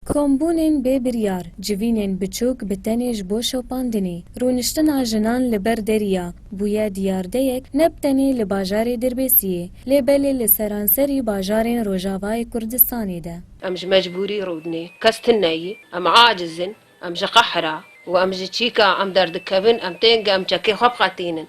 Kombûnên bê biryar, civînên biçûk bi tenê ji bo şopandinê, rûniştina jinan li ber deriya, bûye diyardeyek ne bi tenê li bajarê Dirbêsiyê, lê belê li seranserî bajarên Rojavayê Kurdistanê de. Em ji mecbûrî rûdinê, kes tune yî, em aciz in, em ji qehra û em ji çîka em derdikevin, em tên ku em çekê xwe biqetînin.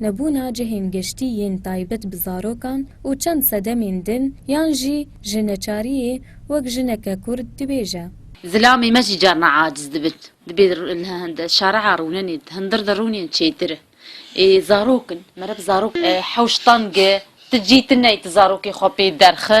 Nebûna cihên geştî yên taybet bi zarokan û çend sedemên din yan jî ji neçariyê wek jineke kurd dibêje. Zilamê me jî carna aciz dibin. Dibê li şare'a rûnenê, di hundir de rûnên çêtir in. Ê zarok in, meriv zarok in. Hewş tenge, ti cî ti ney ti zarokê xwe pê derxi.